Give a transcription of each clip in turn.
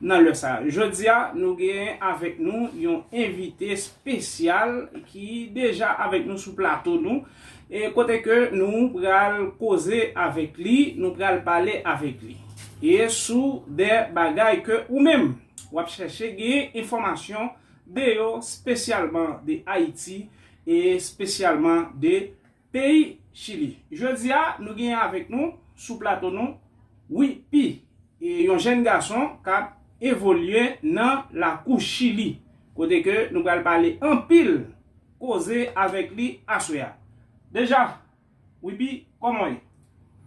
Nan lè sa. Jodia nou gen avèk nou yon envite spesyal ki deja avèk nou sou plato nou e kote ke nou pral koze avèk li, nou pral pale avèk li e sou de bagay ke ou menm wap chèche gen enfòmasyon de yo spesyalman de Ayiti e spesyalman de Peyi Chili. Jodi a, nou genyen avèk nou, sou plato nou, Wi Pi, yon jèn gason k ap evolye nan lakou Chili, kote ke nou pral pale anpil koze avèk li aswè a. Deja, Wi Pi, kòman w ye?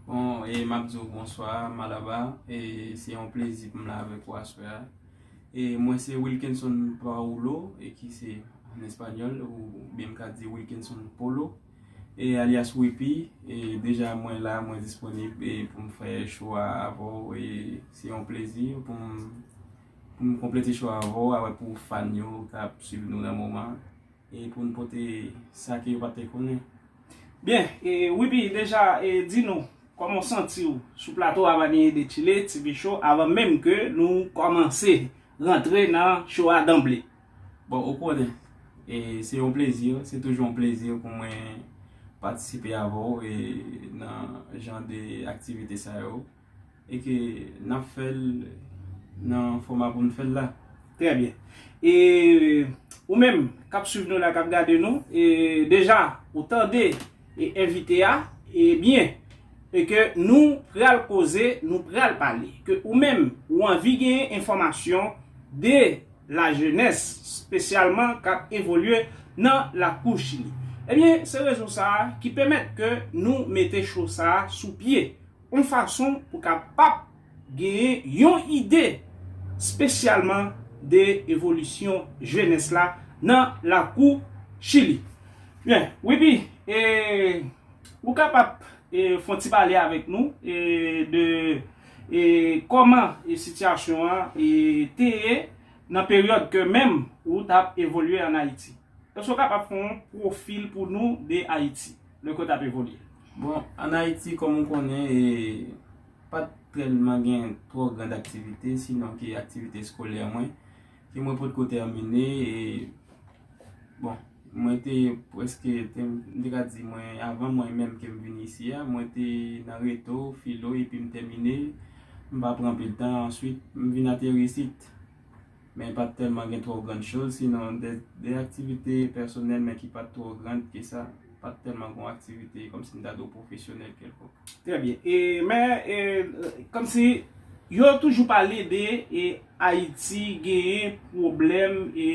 Bon e map di w bonswa Malaba e se yon plezi pou m la avèk ou aswè a e mwen se Wilkinson Paolo e ki se an espanyòl ou byen m ka di Wilkinson Polo e alyas Wipi e deja mwen la mwen disponib e pou m fè show a avè w e se yon plezi pou m pou m konplete show a avè w avè pou fan yo kap swiv nou nan moman. e pou n pote sa ke yo pa te konnen. Byen, e Wiby deja e di nou kòman w santi w sou plato Avanyè de Chile TV Show avan menm ke nou kòmanse rantre nan show a danble. Bon, ou konnen, e se yon plezi, se toujou yon plezi pou mwen patisipe avè w e nan jan de aktivite sa yo. E ke nap fèl nan foma poun fèl la. Trè byen. E ou menm kap swiv nou la kap gade nou, e deja ou tande e envite a, e byen. E ke nou pral koze, nou pral pale. Ke ou menm ou anvi genyen enfòmasyon de la jenès, spesyalman kap evolye nan la kou chili. E byen se rezon sa ki pèmèt ke nou mete cho sa sou pye. yon fason pou kapap genyen yon ide spesyalman de evolisyon jenès la nan lakou Chili. Byen, Wiby, e ou kapap fon ti pale avèk nou de kòman sitiyasyon an te ye nan peryòd ke menm ou tap evolye an Ayiti? Èske ou kapab fon pwofil pou nou de Ayiti? Le kont ap evolye. Bon, an Ayiti, kòm ou konnen, pa t tèlman gen twò grand aktivite, sinon ke aktivite eskolè mwen, ke mwen potko tèmine, e, bon, mwen te preske, m te ka di mwen, avan mwen menm ke m vin isi a, mwen te nan reto, filo, epi m tèmine, m pa pran anpil tan, answit, m vin ateri isit. Men pa t tèlman gen twò grann choz, sinon de aktivite pèsonèl men ki pa t twò grand ke sa. Pa t tèlman gon aktivite kòm si m ta di w pwofesyonèl kèlkonk. Trè byen. E men e kòm si yo toujou pale de e Ayiti genyen pwoblèm e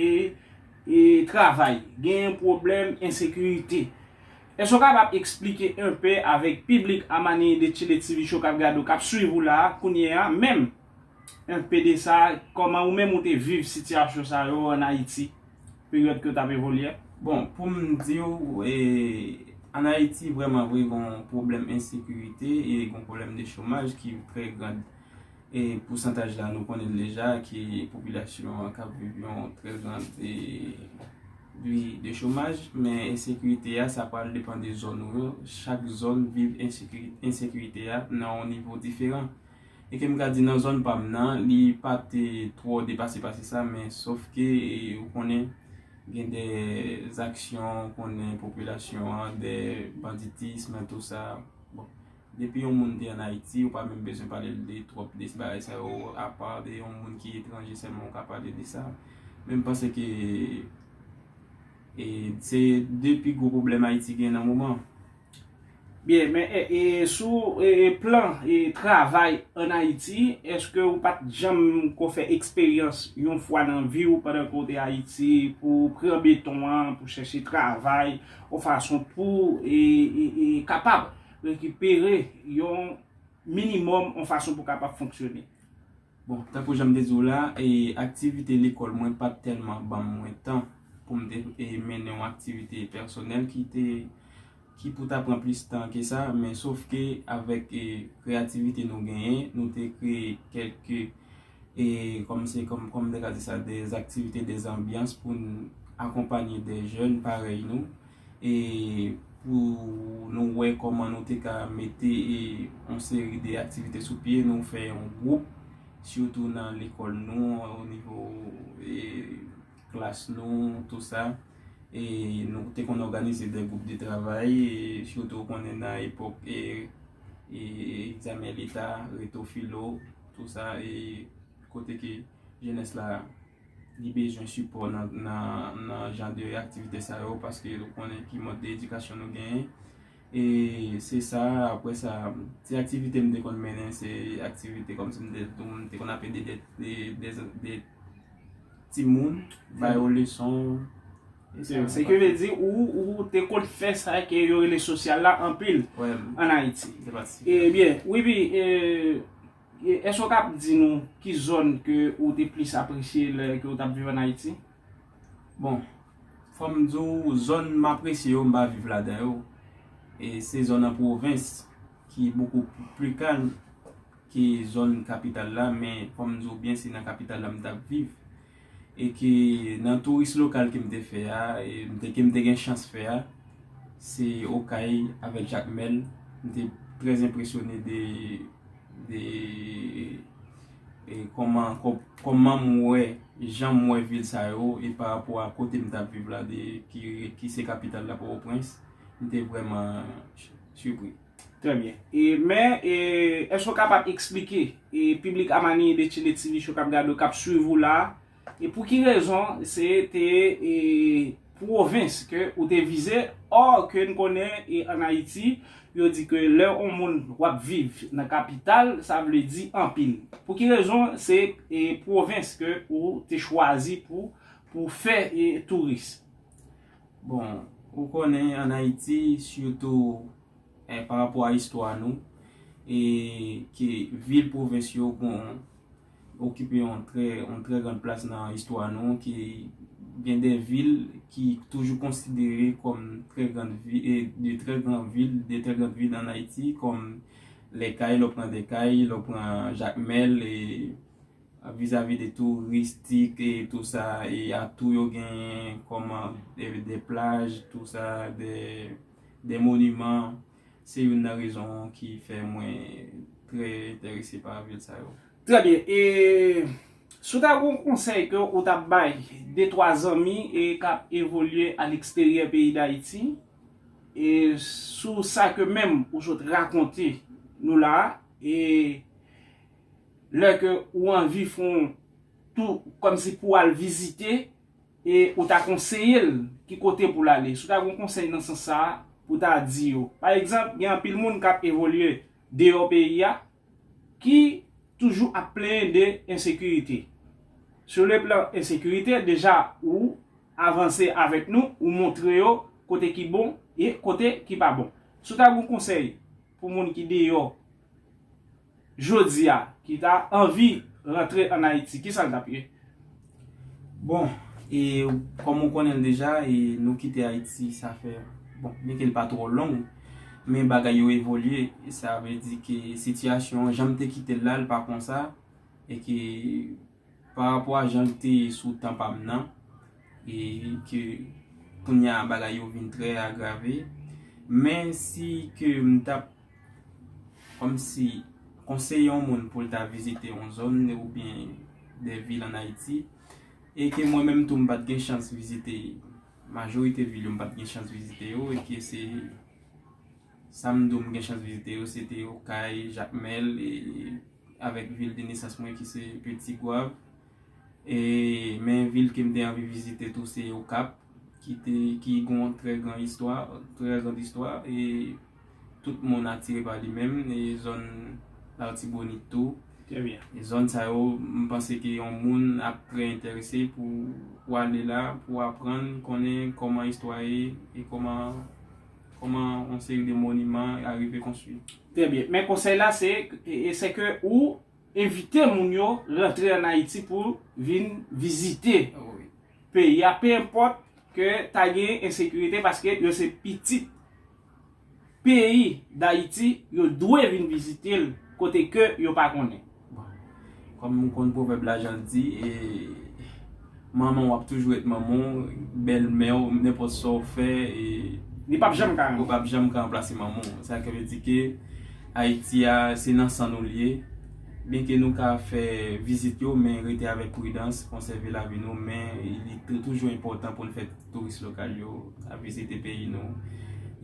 e travay. Genyen pwoblèm ensekirite. Èske w kapab esplike enpe avèk piblik a Manini de Chile TV Show k ap gade w, k ap swiv ou la a kounye a menm? Env PD sa, kòman ou menm ou te viv sitiyasyon sa yo an Ayiti, peryòd ke w t ap evolye? Bon, pou m di w, an Ayiti vrèman vre gon pwoblèm ensekirite e gon pwoblèm de chomaj ki trè gran. E pousantaj la nou konnen l deja ki popilasyon an k ap viv yon trè gran vi de chomaj. Men ensekirite a sa pral depan de zòn ou yo. Chak zòn viv ensekirite a nan yon nivo diferan. E ke m ka di nan zòn pa m nan, li pa te twò depase pase sa, men sof ke ou konnen gen de zaksyon ou konnen popilasyon an, de banditism an tou sa. Bon, depi yon moun te an Ayiti, ou pa menm bezwen pale l de twòp de bagay sa yo, apa de yon moun ki etranje sèlman ou ka pale de sa. Men m panse ke se de pi gwo pwoblèm Ayiti gen nan moman. Byen, men e sou plan travay an Ayiti, eske ou pat janm ko fè eksperyans yon fwa nan vi ou pandan ke ou te Ayiti pou ou pran beton an, pou chèche travay, yon fason pou e kapab rekipere yon minimòm yon fason pou kapab fonksyone? Bon, tankou jan m te di w la, aktivite lekòl mwen pa t tèlman ban mwen tan pou m te mennen yon aktivite pèsonèl ki te, ki pou ta pran plis tan ke sa, men sof ke avèk kreyativite nou genyen, nou te kreye kèlk, kòm se, kòm m te ka di sa, dè aktivite, dè anbyans pou n akonpanye dè jèn parèy nou e pou nou wè kòman nou te ka mete yon seri de aktivite sou pye, nou fè yon gwoup sitou nan lekòl nou o nivo klas nou tou sa e nou te konn òganize de gwoup de travay sitou ou konnen nan epòk e egzamen leta reto filo tou sa e kote ke jenès la Li bezwen sipò nan jan de aktivite sa yo paske nou konnen ki mòd de edikasyon nou genyen. E se sa apre sa ti aktivite m te konn mennen se aktivite kòm si m te tou m te konn ap ede de ti moun bay yo leson. Se ki vle di ou te konn fè sa ke yo rele sosyal la anpil an Ayiti. Ebyen, Wibi e. Èske ou kab di nou ki zòn ke ou te plis apresye lè ke ou tap viv an Ayiti? Bon, fòm di w zòn m apresye yo m pa viv ladan yo, e se zòn an pwovens ki bokou pli kalm ke zòn kapital la, men fòm di w byen se nan kapital la m tap viv. e ke nan touris lokal ke m te fè a, ke m te gen chans fè a, se Okay avèk Jakmèl, m te trè enpresyone de kòman m wè, jan m wè vil sa yo, e pa rapò a kote m tap viv la, ki se kapital la, Pòtoprens, m te vrèman sipri. Trè byen. E men, e, èske ou kapab eksplike, e, piblik a Manille de Chile TV Show k ap gade ou, k ap swiv ou la a, e pou ki rezon se te, e, pwovens ke ou te vize, or ke n konnen e an Ayiti, yo di ke lè on moun w ap viv nan kapital, sa vle di anpil. Pou ki rezon se, e, pwovens ke ou te chwazi pou, pou fè, e, touris? Bon, ou konnen an Ayiti, sitou pa rapò a istwa nou, e ke vil pwovens yo okipe yon trè gran plas nan istwa nou, ke gen de vil ki toujou konsidere kòm trè gran vil, de trè gran vil an Ayiti, kòm lè kay, lè w pran lè kay, lè w pran Jakmèl, Vizavi de touristik e tou sa e atou yo genyen kòm de plaj tou sa de moniman se youn nan rezon ki fè mwen trè enterese pa vil sa yo. Trè byen e si w ta gen yon konsèy ke ou ta bay de twa zanmi e k ap evolye a leksteryè peyi Dayiti e sou sa ke menm ou sot rakonte nou la a e Lè ke ou anvi fon tou kòmsi pou al vizite e ou ta konseye l ki kote pou l ale. Si w ta gen yon konsèy nan sans sa a pou w ta di yo. Pa egzanp, gen anpil moun k ap evolye deyò peyi a ki toujou ap plenyen de ensekirite. Sou le plan ensekirite, deja ou avanse avèk nou, ou montre yo kote ki bon e kote ki pa bon. Si w ta gen yon konsèy pou moun ki deyò. jodi a ki ta anvi rantre an Ayiti, ki sa l t ap ye? Bon, e kòm ou konnen l deja, e nou kite Ayiti sa fè, bon, byen ke l pa twò long, men bagay yo evolye, sa vle di ke sitiyasyon an, jan m te kite l la, l pa konsa, e ke. Pa rapò a jan l te ye sou tan pa m nan, e ke kounye a bagay yo vin trè agrave, men si ke m t ap kòmsi konseye yon moun pou l ta vizite yon zòn oubyen de vil an Ayiti, e ke mwen menm tou m pa t gen chans vizite majorite vil yo, m pa t gen chans vizite yo, e ke se. Sa m di w m gen chans vizite yo se te Okay, Jakmèl e avèk vil de nesans mwen ki se Peti Gwav. E men vil ke m te anvi vizite tou se Okap ki te ki gon trè gran istwa, trè grand istwa e tout moun atire pa li menm e zòn L'artibonite tou. Trè byen. E zòn sa yo m panse ke yon moun ap trè enterese pou ale la pou aprann konnen kòman istwa ye e kòman Kòman yon seri de moniman arive konstwi. Trè byen. Men konsèy la se, se ke ou envite moun yo rantre an Ayiti pou vin vizite peyi a, pe enpòt ke ta gen ensekirite paske yo se pitit peyi Dayiti, yo dwe vin vizite l kote ke yo pa konnen. Bon, kòm nou konn pwovèb la jan l di, manman w ap toujou ret manman w, bèlmè w, nenpòt sa w fè, li p ap janm ka ranplase manman w. Sa vle di ke Ayiti a, se nan san nou li ye. Byenke nou ka fè vizit yo, men rete avèk pridans, konsève lavi nou, men li toujou enpòtan pou n fè. Touris lokal yo ap vizite peyi nou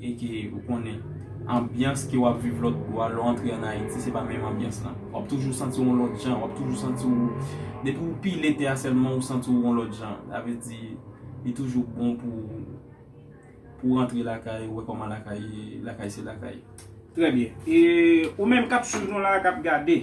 e ke ou konnen anbyans ke wap viv lòt bò a lè w antre an Ayiti se pa menm anbyans lan. Wap toujou santi w yon lòt jan, wap toujou santi w depi w pile tè a sèlman ou santi w yon lòt jan. Sa vle di li toujou bon pou pou w antre lakay ou wè kòman lakay ye, lakay se lakay. Trè byen. E ou menm kap swiv nou la a kap gade.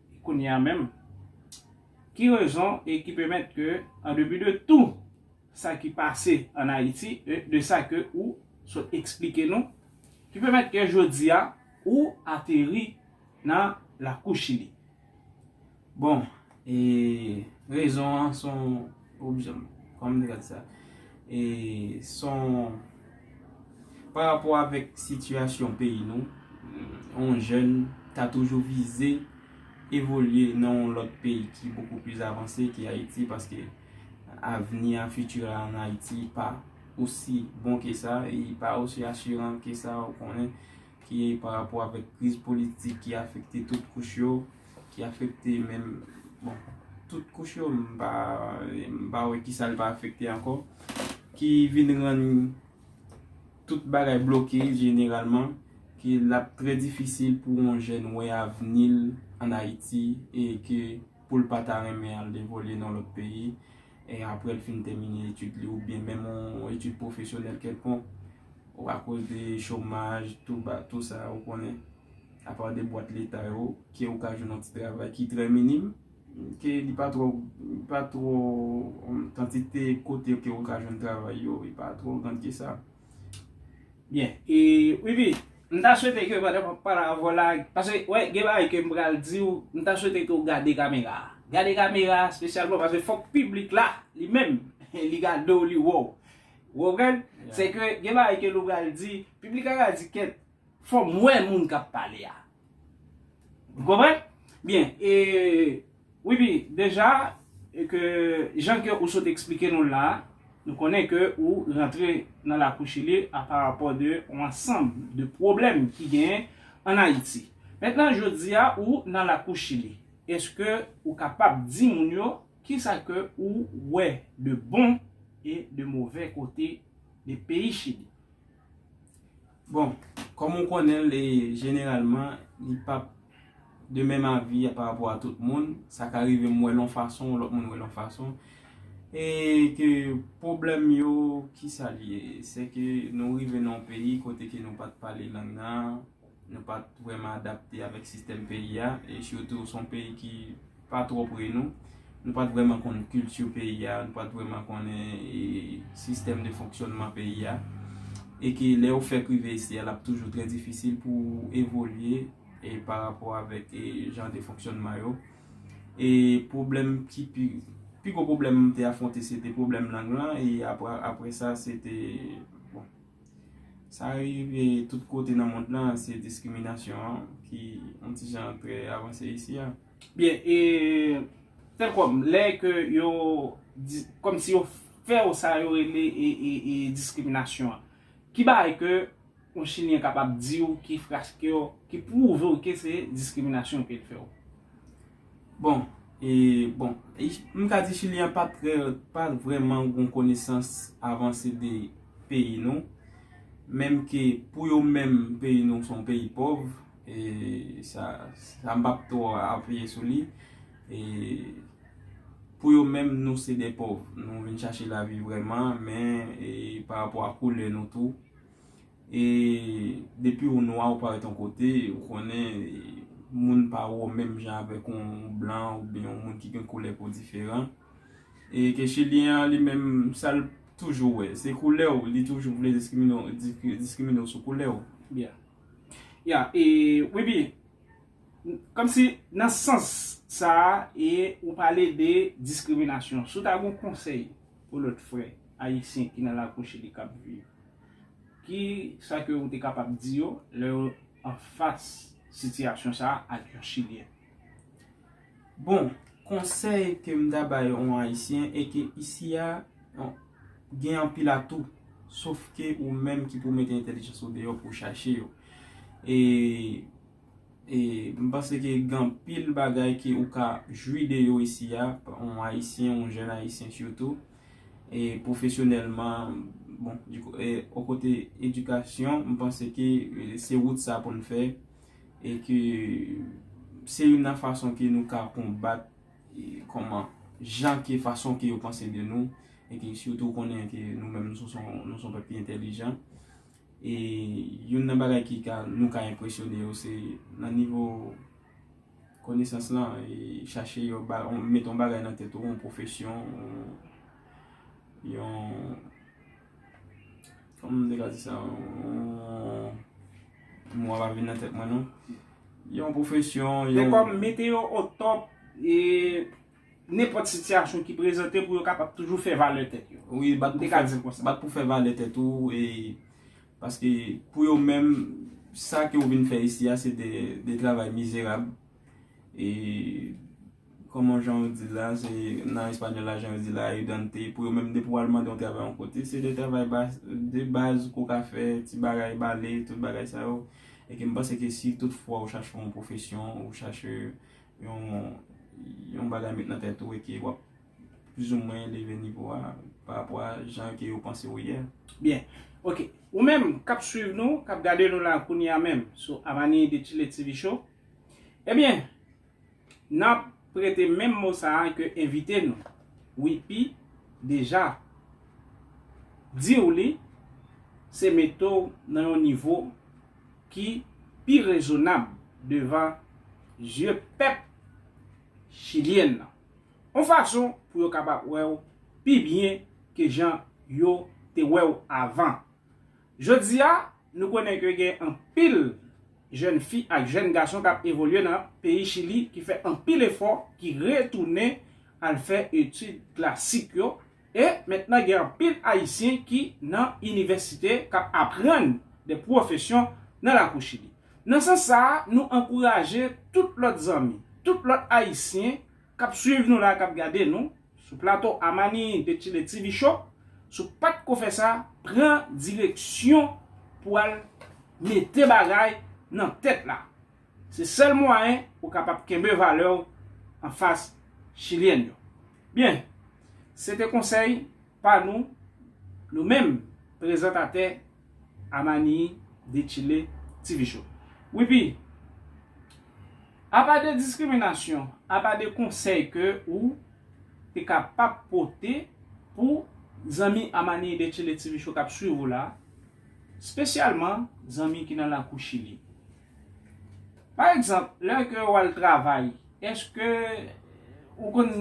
Kounye a menm, ki rezon e ki pèmèt ke an depi de tou sa ki pase an Ayiti e de sa ke ou sot eksplike nou, ki pèmèt ke jodi a ou ateri nan lakou Chili? Bon, e rezon an son Ooh bzanm kòman te ka di sa e son pa rapò avèk sitiyasyon peyi nou yon jèn ta toujou vize evolye nan yon lòt peyi ki bokou plis avanse ke Ayiti paske avni a futur a an Ayiti pa osi bon ke sa e li pa osi asuran ke sa ou konnen ki pa rapò avèk kriz politik ki afekte tout kouch yo. Ki afekte men bon tout kouch yo m pa wè kisa l pa afekte ankò. Ki vin rann tout bagay bloke jeneralman. Ki l ap trè difisil pou yon jèn wè avni l an Ayiti e ke pou l pa ta renmen al evolye nan lòt peyi. e apre l fin tèmine etid li oubyen menm yon etid pwofesyonèl kèlkonk, ou akoz de chomaj, tou ba, tou sa, ou konnen, apa de bwat leta yo, ke ou ka jwenn yon ti travay ki trè minim, ke li pa twò, li pa twò, kantite kote ke ou ka jwenn travay yo, li pa twò grand ke sa. Byen, e Wifi, m ta swete ke pandan wap pale avè w la, paske wè gen bagay ke m pral di w, m ta swete ke w gade kamera a. Gade kamera a spesyalman paske fòk piblik la li menm li gade w li wè w. Ou konprann? Se ke gen bagay ke nou pral di, piblik la ka di kèt, Fòm wè moun kap pale a. Ou konprann? Byen, e wi pi deja ke jan ke ou sot eksplike nou la, nou konnen ke ou rantre nan lakou chili a pa rapò de yon ansanm de pwoblèm ki genyen an Ayiti. Mentnan jodi a ou nan lakou chili, eske ou kapab di moun yo kisa ke ou wè de bon e de move kote de peyi chili? Bon, kòm ou konnen l, e jeneralman, li p ap de menm avi a pa rapò a tout moun. Sa ka rive m wè l yon fason, lòt moun wè l yon fason. E ke pwoblèm yo, ki sa li ye? Se ke nou rive nan yon peyi kote ke nou pa t pale lang nan, nou pa t vrèman adapte avèk sistèm peyi a, e sitou s on peyi ki. pa twò pre nou, nou pa t vrèman konn kilti peyi a, nou pa t vrèman konnen sistèm de fonksyònman peyi a, e ke lè ou fèk rive isi a l ap toujou trè difisil pou ou evolye e pa rapò avèk e jan de fonksyònman yo. E pwoblèm ki pi, pi gwo pwoblèm m te afwonte se te pwoblèm lang lan e apre, apre sa se te, bon, sa rive tout kote nan mond lan se diskriminasyon an ki yon ti jan trè avanse isi a. Byen e sèl kòm lè ke yo kòm si yo fè ou sa yo rele e diskriminasyon an. Ki bagay ke yon chilyen kapab di ou ki fraske ou, ki pwouve ou ke se diskriminasyon ke li fè ou? Bon e bon m ka di chilyen an pa trè pa vrèman gon konesans avanse de peyi nou menm ke pou yo menm peyi nou son peyi pòv E sa m pa p twò apiye sou li. E pou yo menm nou se de pòv. Nou vin chache lavi vrèman men e pa rapò a koulè nou tou. E depi ou nwa ou parèt yon kote, ou konnen moun pa wè w menm jan avèk yon blan ou byen yon moun ki gen koulè po diferan. E ke chilyen an li menm sa l toujou wè. Se koulè w, li toujou vle diskrimine w sou koulè w. Ya e wibi Kom si nan sans sa e ou pale de diskriminasyon si w ta gen yon konsèy pou lòt frè ayisyen ki nan lakou chili k ap viv ki sa ke ou te kapab di yo lè yo anfas sitiyasyon sa ak yon chilyen? Bon, konsèy ke m ta bay yon Ayisyen e ke isi a gen anpil atou, sof ke ou menm ki pou mete entèlijans ou deyò pou chache yo. E m panse ke gen anpil bagay ke ou ka jwi de yo isi a, yon Ayisyen, yon jèn Ayisyen sitou, e pwofesyonèlman, bon, o kote edikasyon, m panse ke se wout sa pou n fè. e ke se youn nan fason ke nou ka konbat kòman jan ke fason ke yo panse de nou e ke sitou konnen ke nou menm nou son nou son pèp ki entèlijan e youn nan bagay ki ka nou ka enpresyone yo se nan nivo konesans lan e chache yo ba mete yon bagay nan tèt ou yon pwofesyon yon Kòman m te ka di sa? Mo a pa vin nan tèt mwen non. Yon pwofesyon, yon. Men kòm mete yo o top e nenpòt sitiyasyon ki prezante pou yo kapab toujou fè valè tèt yo. Wi, bat pou fè. M te ka di l konsa. Bat pou fè valè tèt ou e paske pou yo menm sa ke ou vin fè isi a se de travay mizerab e. Kòman jan ou dil la se nan español la jan yo dil la ayudante pou yo menm depi wal mande yon travay yon kote se de travay bas de baz ke w ka fè ti bagay bale tout bagay sa yo e ke m panse ke si tout fwa ou chache yon pwofesyon ou chache yon yon bagay met nan tèt ou e ke wap plis ou mwen leve nivo a pa rapò a jan ke yo panse ou ye. Byen ok ou menm kap swiv nou kap gade nou la kounya menm sou Amani de Chile TV show ebyen. Nap prete menm mo sa a ke envite nou, Wipi, deja di w li, se mete w nan yon nivo ki pi rezonab devan zye pèp chilyen nan. Yon fason pou yo kapab wè w pi byen ke jan yo te wè w avan. Jodi a, nou konnen ke gen anpil jèn fi ak jèn gason k ap evolye nan peyi Chili ki fè anpil efò, ki retounen al fè etid klasik yo, e mentnan gen anpil Ayisyen ki nan inivèsite k ap aprann de pwofesyon nan lakou Chili. Nan sans sa a, nou ankouraje tout lòt zanmi, tout lòt Ayisyen k ap swiv nou la, k ap gade nou, Sou plato Amani te chile TV show, si w pat ko fè sa, pran direksyon pou al mete bagay nan tèt la. Se sèl mwayen ou kapab kenbe valè w anfas chilyen yo. Byen, se te konsèy pa nou, nou menm prezantatè Amani de Chile TV show. Wi pi, apa de diskriminasyon, apa de konsèy ke ou te ka pap pote pou zanmi Amani de Chile TV show kap swiv ou la, spesyalman zanmi ki nan lakou Chili. Pa egzanp, lè ke ou al travay, eske ou konn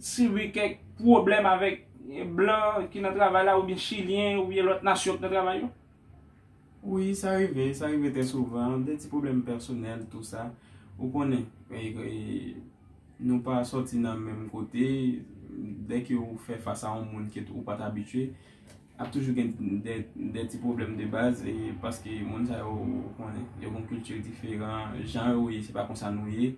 sibi kèk pwoblèm avèk blan ki nan travay la oubyen chilyen oubyen lòt nasyon ki nan travay yo? Wi, sa rive, sa rive trè souvan, de ti pwoblèm pèsonèl tou sa. Ou konnen, nou pa sòti nan menm kote, dèke ou fè fas a yon moun ke ou pa t abitye. Ap toujou gen de ti pwoblèm de baz e paske moun sa yo ou konnen, yo gon kilti diferan, jan yo ye se pa konsa nou ye,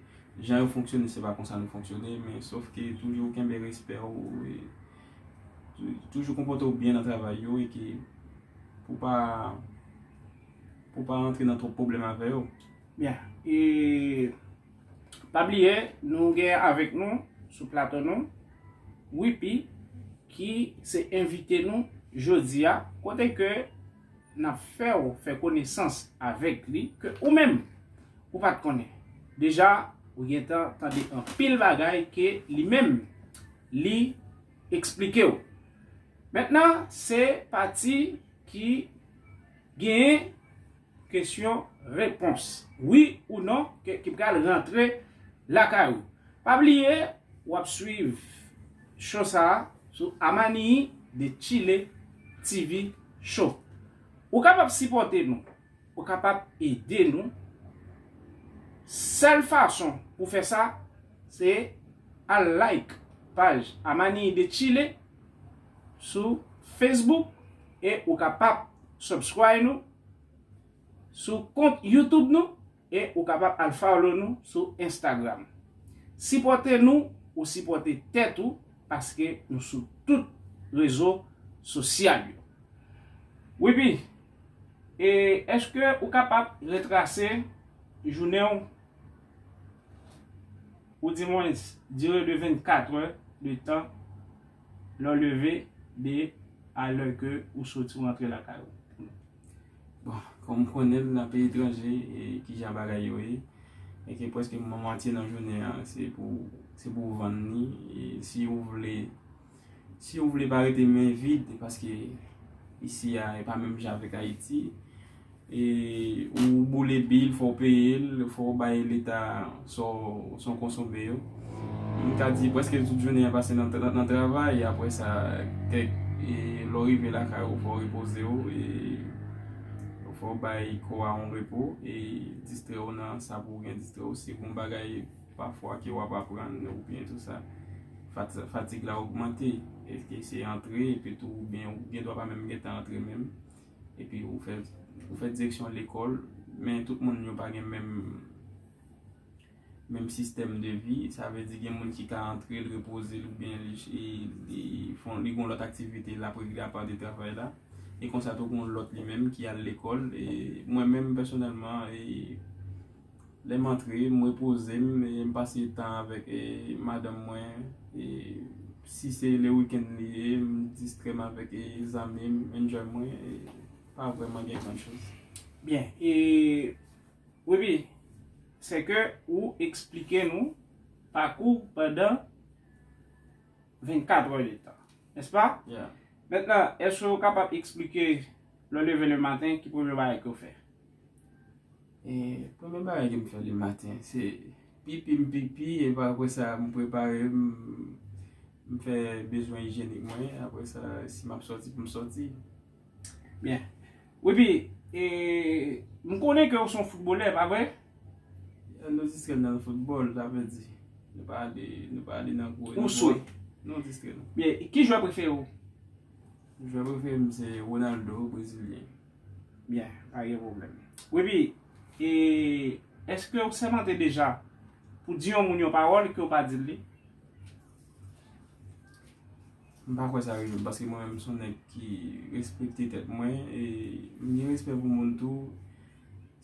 jan yo fonksyone se pa konsa nou fonksyone men sof ke toujou kenbe respè w e toujou konpòte w byen nan travay yo e ke pou w pa pou w pa rantre nan twòp pwoblèm avè yo. Byen e. Pa bliye nou gen avèk nou sou plato nou Wipi ki se envite nou jodi a kote ke n ap fè w fè konesans avèk li ke ou menm ou pa t konnen. Deja ou gen tan tande anpil bagay ke li menm li eksplike w. Mentnan se pati ki gen. Kesyon, repons, Wi ou non ke ki pral rantre lakay ou. Pa bliye w ap swiv show sa a sou Amanii de Chile TV Show. Ou kapab sipòte nou, ou kapab ede nou. Sèl fason pou fè sa se al like paj Amanii de Chile sou Facebook e ou kapab subscribe nou. sou kont YouTube nou e ou kapab al follow nou sou Instagram. Sipòte nou ou sipòte tèt ou paske nou sou tout rezo sosyal yo. Wiby, e eske ou kapab retrase jounen w ou di mwens dire de 24 è de tan? Lè w leve, 2, a lè ke ou soti ou antre lakay ou. Bon, kòm ou konnen l, nan peyi etranje, ki jan bagay yo ye, e ke prèske mwatye nan jounen an, se pou se pou ou vann li, e si ou vle, si ou vle pa rete men vid, paske isi a e pa menm jan avèk Ayiti, Ou boule bil fòw peyel fòw bay leta saw konsome yo m ka di preske tout jounen an pase nan travay apre sa kèk lèw rive lakay ou fòw repozew fòw bay kò a yon repo e distrew nan sa pouw gen distrew si gon bagay pafwa ke wap aprann ou byen tout sa fatig la ogmante eske se antre epitou ou gen dwa pa menm gentan antre menm. Epi ou fè ou fè direksyon lekòl, men tout moun yo pa gen menm menm sistèm de vi, sa vle di gen moun ki ka antre l repoze l oubyen li fon li gon lòt aktivite l ap regle apa de travay la, e konsa tou gon lòt li menm ki al lekòl, e mwen menm pèsonèlman e Lè m antre, m repoze m e m pase tan avèk madanm mwen. Si se le weekend li ye, m distrè m avèk zanmi m, enjoy mwen. Pa vrèman gen gran choz. Byen, e Webby, se ke ou eksplike nou pakou w pandan 24 è de tan, nèspa? Ya. Mentnan, èske ou kapab eksplike lè w leve le maten ki premye bagay ke w fè? Premye bagay ke m fè le maten, se pipi m pipi, epi apre sa m prepare m, m fè bezwen ijenik mwen, apre sa si m ap soti pou m soti. Byen, epi, m konnen ke ou son foutbolè, pa vre? Nou distrè nan foutbol, sa vle di, nou pa ale, nou pa ale nan gwo. Ou swe? Nou distrè nan. Byen, ki jwè prefere ou? Jwè prefere m se Ronaldo, brezilyen. Byen, pa gen pwoblèm. Wi pi, e, èske ou sèmante deja pou di yon moun yon pawòl ke ou pa di l li? M pa kwè sa rive m, paske mwen menm m s on nèg ki respekte tèt mwen, e m gen respè pou moun tou.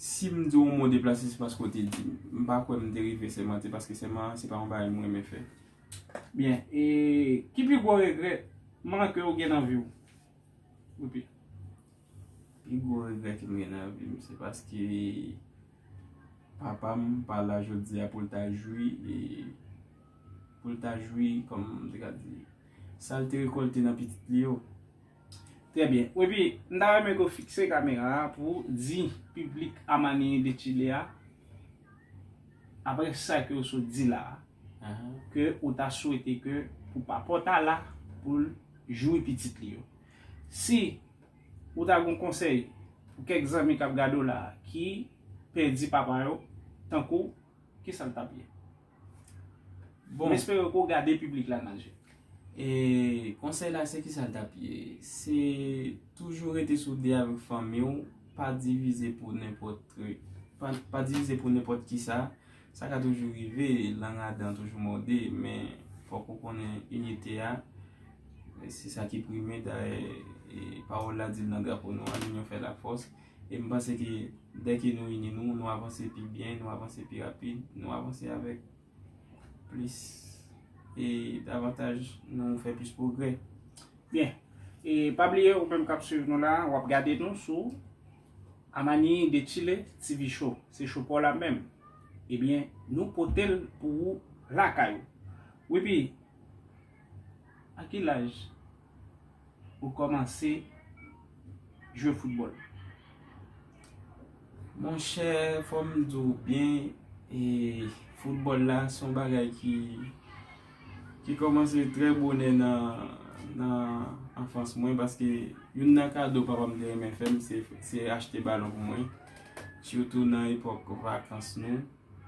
Si m di w yon mo deplase, se paske ou te di m. M pa kwè m te rive sèmante, paske sèman se pa yon bagay m renmen fè. Byen, e, ki pi gwo regrètman ke ou gen nan vi w? Epi, pi gwo regrè ke m gen nan vi m, se paske papa m pa la jodi a pou l ta jwi, pou l ta jwi, kòman m te ka di, sa l te rekòlte nan pitit li yo. Trè byen. Epi, m ta renmen ke w fikse kamera a pou di piblik Amani de Chile a, Aprè sa ke ou sot di la a, ke ou ta swete ke pou papa w ta la pou l joui pitit li yo. Si ou ta gon konsèy pou kèk zanmi k ap gade w la a ki pèdi papa yo tankou w, ki sa l t ap ye? Bon m espere ke w gade piblik la nan je. E konsèy la se kisa l tap ye? Se toujou rete soude avèk fanmi w, pa divize pou nenpòt trik, pa divize pou nenpòt kisa, sa ka toujou rive, lang a dan toujou mòde, men fòk ou konnen inite a, se sa ki prime dayè pawòl la di l nan drapo nou an, linyon fè lafòs. E m panse ke dè ke nou ini nou, nou avanse pi byen, nou avanse pi rapid, nou avanse avèk plis e davantaj nou fè plis pwogrè. Byen. E pa bliye ou menm k ap swiv nou la, w ap gade nou sou Amani de Chile TV Show. Se show pa w la menm. Ebyen, nou pote l pou ou lakay ou. Wi pi, a ki laj? ou kòmanse jwe foutbòl? Monchè, fò m di w byen, foutbòl la se yon bagay ki kòmanse trè bonè nan anfans mwen paske youn nan kado papa m te renmen fè m se achte balon pou mwen. Sitou nan epòk vakans nou,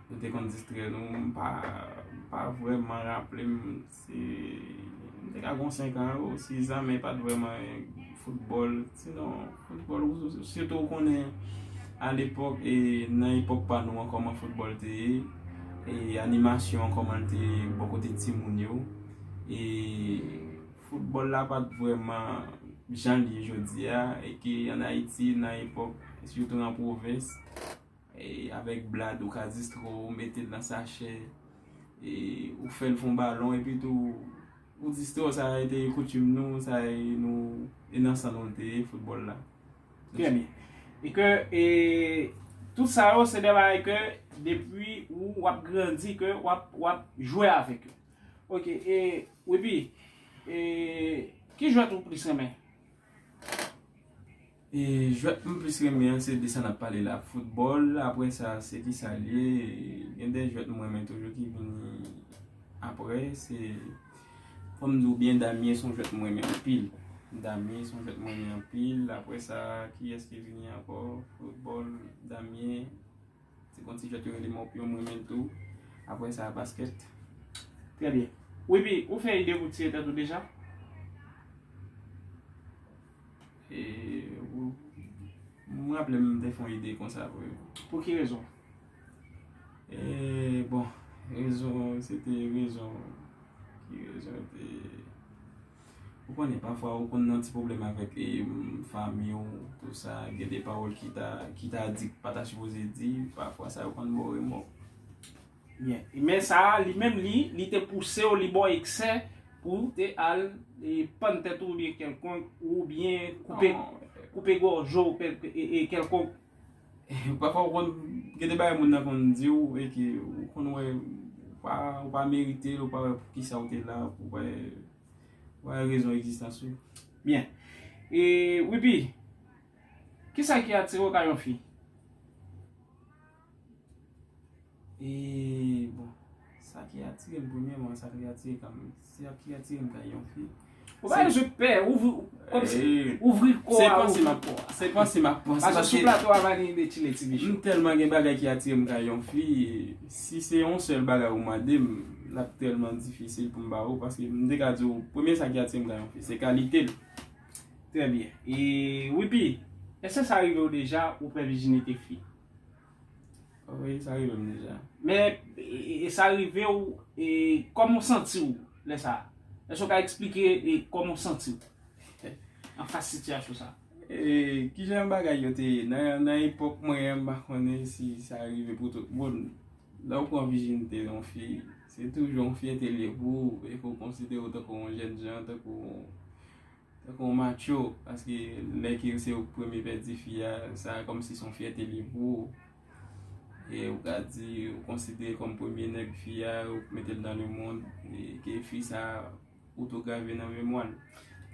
nou te konn distrè nou, m pa vrèman raple m Si m te ka gen yon 5 an, ou si zame pat vreman football, si non football, si tou ou konnen a lepok, e nan epok pa nou an koman football te ye, e animasyon an koman l te ye bo kote ti moun yo, e football la pat vreman jan li ye jodi a, e ke an Ayiti nan epok, si tou nan provens. Avèk blad ou ka distre w, ou mete l nan sachè, ou fè l fon balon epi tou ou distre w. Sa e te koutim nou, sa e nou e nan san nou l te ye foutbòl la. Trè byen. E ke e tout sa yo se de bagay ke depi ou w ap grandi ke w ap w ap jwe avèk yo. Ok e Weby e ki jwèt ou plis renmen? E jwèt m plis renmen an se de sa nap pale la football aprè sa se kisa l ye gen de jwèt m renmen toujou ki vini aprè se fòm di w byen damye son jwèt m renmen anpil damye son jwèt m renmen anpil aprè sa kiyès ki vini ankò football damye se kon ti jwèt yo rele mòpyon m renmen l tou aprè sa basket. Trè byen. Wibby, ou fè ide pou tiye tèt ou deja? M raple m te fon ide konsa vre. Pou ki rezon? Eee bon, rezon se te rezon ki rezon te... Ou konnen pafwa ou konn nan ti pwoblèm avèk e fanmi ou tou sa, gen de pawòl ki ta di ki pa ta sipoze di, pafwa sa yo konn bo remò. Byen. E men sa a, li menm li, li te pouse w, li ba w eksè pou w te al e pann tèt ou oubyen kèlkonk, oubyen koupe, koupe gòj ou e kèlkonk. Pafwa ou konn gen de bagay moun nan konn di w e ke ou konn wè ou pa, ou pa merite l, ou pa wè poukisa ou te la, ou pa wè rezon egzistans ou. Byen. E Wipi, kisa ki atire w ka yon fi? E bon, sa ki atire m premyèman, sa ki atire m kanmèm, sa ki atire m kay yon fi. Ou pa jwe pè, ou vri kò a. Se panse m ap pò. Se panse m ap pò. Paske sou plato a vane yon de chile ti bichou. M tèlman gen bagay ki atire m kay yon fi, si se yon sèl bagay ou mande m, l ap tèlman difisil pou m ba ou. Paske m te ka di ou, premye sa ki atire m kay yon fi, se kalite l. Trè byen. E wipi, eske sa rive ou deja ou pè vijinite fi? Anmweyy sa rive m deja. Men e sa rive w e kòman w santi w lè sa? Èske w ka eksplike e kòman w santi w an fas sitiyasyon sa? E kijan bagay yo te ye nan epòk mwen an m pa konnen si sa rive pou tout moun. Lè w pran vijinite yon fi, se toujou yon fi entelyè pou ou e ke w konsidere w tankou yon jènjan, tankou yon. Tankou yon matcho paske lè ke se ou ki premye pèdi fi a sa kòmsi son fyète liye pou ou e ou ka di ou konsidere kòm premye nèg fi a ou k metel nan le mond e ke fi sa ou tou grave nan memwa l.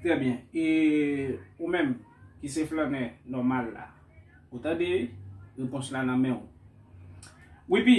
Trè byen e ou menm ki se flannè nòmal la ou tande repons la nan menw wi pi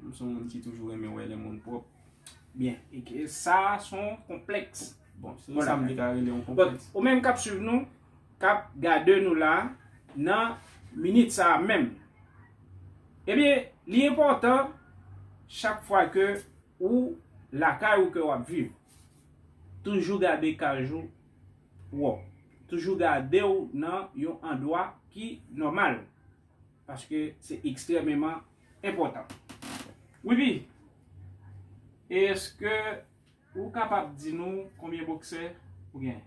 M son moun ki toujou renmen wè lè moun pwòp. Byen. E ke sa son konplèks. Bon, se sa m te ka rele yon konplèks. Bon, ou menm k ap swiv nou, k ap gade nou la, nan minit sa a menm. Ebyen, li enpòtan chak fwa ke ou lakay ou ke w ap viv. Toujou gade kaj ou pwòp. Toujou gade ou nan yon andwa ki nòmal. Paske se ekstrememan enpòtan wi pi eske ou kapab di nou konbyen boksè ou gen.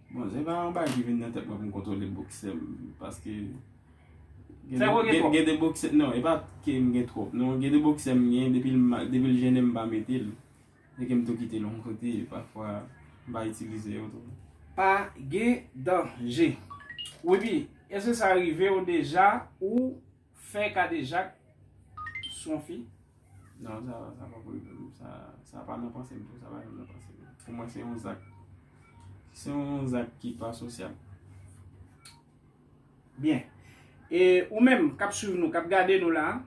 Bon se pa yon bagay ki vin nan tèt mwen pou m kontwole boksè m paske Sèvo w gen twòp? Gen de boksè non e pa ke m gen twòp non gen de boksè m gen depi l depi l jennen m pa mete l E ke m tou kite long kote pafwa m pa itilize yo tou. Pa gen danje. Webby, eske sa rive w deja ou fè kadejak sou yon fi? Non, sa pa ko rive m. Sa pa nan panse m tou. Sa pa janm nan panse m. Pou mwen se yon zak. Se yon zak ki pa sosyal. Byen. E ou menm k ap swiv nou, k ap gade nou la,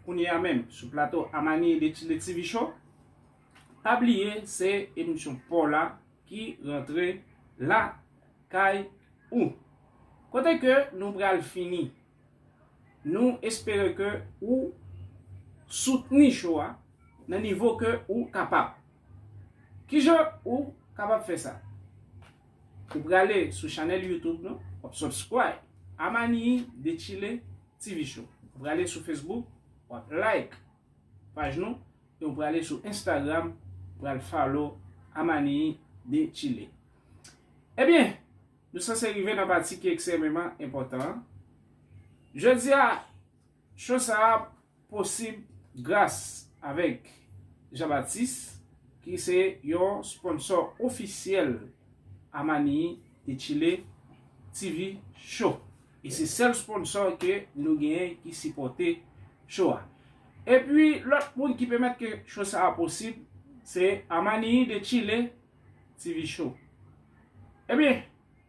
kounye a menm, sou plato Amani de TV Show. Pa bliye se emisyon paw la ki rantre la kay ou. Kote ke nou pral fini. Nou espere ke ou soutni show a nan nivo ke ou kapab. Kijan ou kapab fè sa? Ou prale sou chanèl YouTube nou, wap subscribe Amani de Chile TV show. Ou prale sou Facebook, wap like. Paj nou e ou prale sou Instagram pral follow Amanii de Chile. Ebyen, nou sanse rive nan pati ki eksememan enpotan an. Jodia, show sa a posib gras avek Jean Baptiste ki se yon sponsò ofisyel Amanii de Chile TV show. E se sèl sponsor ke nou genyen ki sipòte show a. Epi lòt moun ki pèmèt ke show sa a posib, se Amaniyi de Chile TV Show. Ebyen,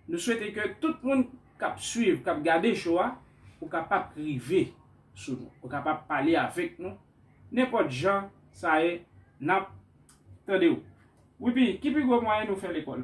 nou swete ke tout moun k ap swiv, k ap gade show a, ou kapab rive sou nou. Ou kapab pale avèk nou, nenpòt jan sa ye, n ap tande ou. Wi pi, ki pi gwo mwayen nou fè lekòl?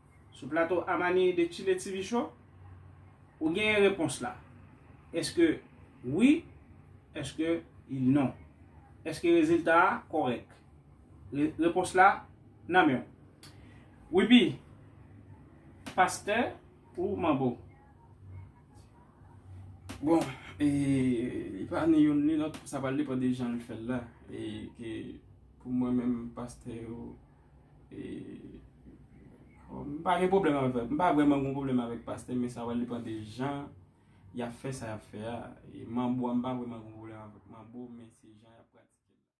Sou plato Amani de Chile TV Show, ou genyen repons la. Eske wi, eske il non. Eske rezilta a kòrèk. Repons la nan menw. Wiby, pastè ou manbo? Bon, e li pa ni youn ni lòt, sa pral depan de jan li fèl la. E ke pou mwen menm pastè yo. M pa gen pwoblèm avèk, m pa vrèman gen pwoblèm avèk pastè men sa wè li pran de jan yap fè sa yap fè a, e manbo a m pa vrèman gen pwoblèm avèk manbo men se jan yap pratike l la.